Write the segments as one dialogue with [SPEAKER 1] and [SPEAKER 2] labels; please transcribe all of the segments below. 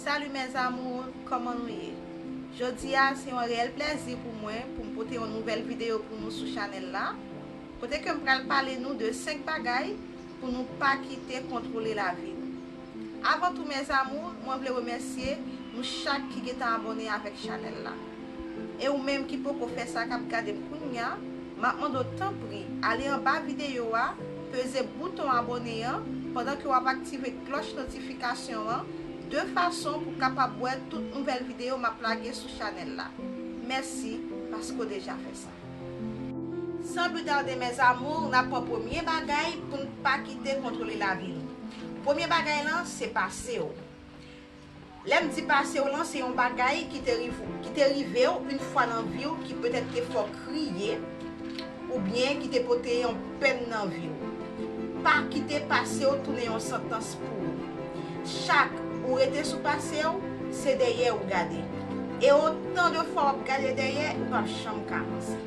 [SPEAKER 1] Salut mes amours kòman nou ye jodia se yon reyèl plèzi pou mwen poum pote yon nouvèl video pou nou sou chanèl la kote kem pral pale nou de 5 bagay pou nou pa kite kontwole lavi nou avan tou mes amours mwen vle remèsye nou chak ki gentan abòne avèk chanèl la. E ou menm ki poko fè sa kap gadem kounya map mande w tanpri ale anba video a peze bouton abone an pandan ke wap aktive klòch notifikasyon an de fason pou kapab wè tout nouvèl video map lage sou chanèl la mèsi paske w deja fè sa. San pli tarde mes amours nap pran premye bagay poun pa kite kontwole lavi nou premye bagay lan se pase w. Lè m di pase w lan, se yon bagay ki te rive w, ki te rive w yn fwa nan vi w ki petèt te fè w kriye oubyen ki te pote yon pèn nan vi w. Pa kite pase w tounen yon santans pou ou. Chak ou rete sou pase w, se dèyè ou gade. E otan de fwa w ap gade dèyè, ou p ap janm ka vanse.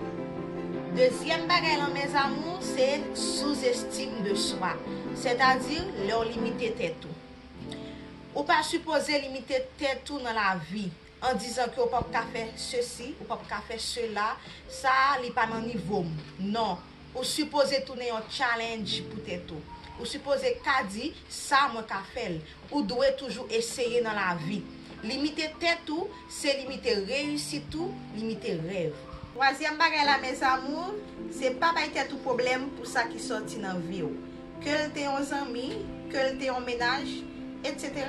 [SPEAKER 1] Dezyèm bagay lan mes amours, se sous-estime de soi, sètadi lè w limite tèt ou. Ou pa sipoze limite tèt ou nan lavi, an dizan ke ou pap ka fè sesi, ou pap ka fè sela, sa a li pa nan nivo m. Non, ou sipoze tounen yon challenge pou tèt ou. Ou sipoze ka di, sa mwen ka fè l. Ou dwe toujou eseye nan lavi. Limite tèt ou, se limite reyisit ou, limite rèv. Twazyèm bagay la mes amours, se pa bay tèt ou pwoblèm pou sa ki sòti nan vi w. Ke l te yon zanmi, ke l te yon menaj, etc.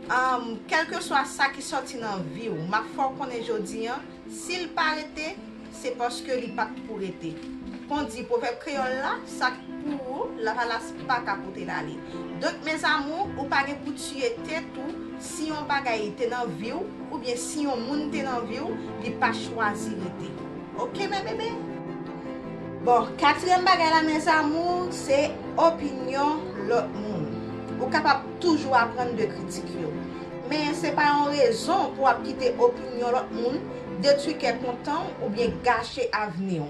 [SPEAKER 1] Umm kèlkeswa sa ki sòti nan vi w, map fè w konnen jodi an, si l pa rete, se paske li pat pou rete. Kon di pwovèb kreyòl la, sa k pou ou, lavalas pa ka pote l ale. Donk mes amours, ou pa gen pou tiye tèt ou si yon bagay te nan vi w, oubyen si yon moun te nan vi w, li pa chwazi rete. Ok mes bébés? Bon, katriyèm bagay la mes amours se opinyon lòt moun. Ou kapab toujou aprann de kritik yo. Men se pa yon rezon pou ap kite opinyon lòt moun detwi kè kontan w oubyen gache avni w.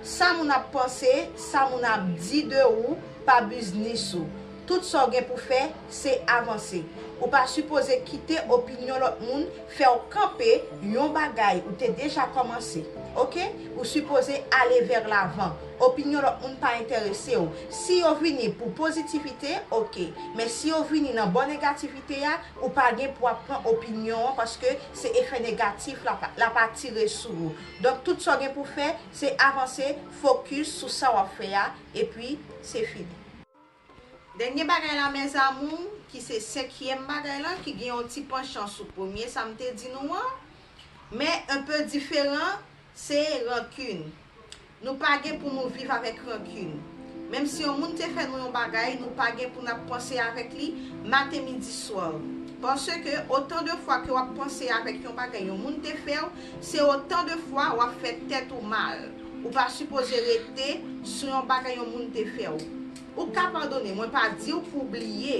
[SPEAKER 1] Sa moun ap panse, sa moun ap di de ou pa biznis ou. Tout sa w gen pou fè, se avanse. Ou pa sipoze kite opinyon lòt moun fè w kanpe yon bagay ou te deja kòmanse. Ok? Ou sipoze ale vèr lavan. Opinyon lòt moun pa enterese w. Si yo vini pou pozitivite, ok. Men si yo vini nan bò negativite a, ou pa gen pou ap pran opinyon an paske se efè negatif l ap, l ap atire sou ou. Donk tout sa w gen pou fè, se avanse, fokis sou sa w ap fè a, epi se fini. Dènye bagay la mes amours, ki se senkyèm bagay la, ki gen yon ti panchan sou premye sa m te di nou an, men un peu diferan, se rancune. Nou pa gen pou nou viv avèk rancune. Menm si yon moun te fè nou yon bagay, nou pa gen pou n ap panse avèk li maten, midi, swa. Paske otan de fwa ke w ap panse avèk yon bagay yon moun te fè w, se otan de fwa w ap fè tèt ou mal. Ou pa sipoze rete sou yon bagay yon moun te fè w. Ou ka padone, mwen pa di w pou w bliye,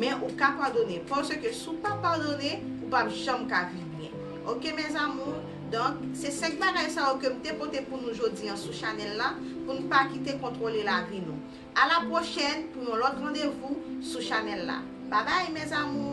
[SPEAKER 1] men ou ka padone, paske si w pa padone, ou p ap janm ka viv byen. Ok mes amours, donk se 5 bagay sa yo ke m te pote pou nou jodi an sou chanèl la, pou n pa kite kontwole lavi nou. A la prochèn pou yon lòt randevou sou chanèl la. Babay mes amours!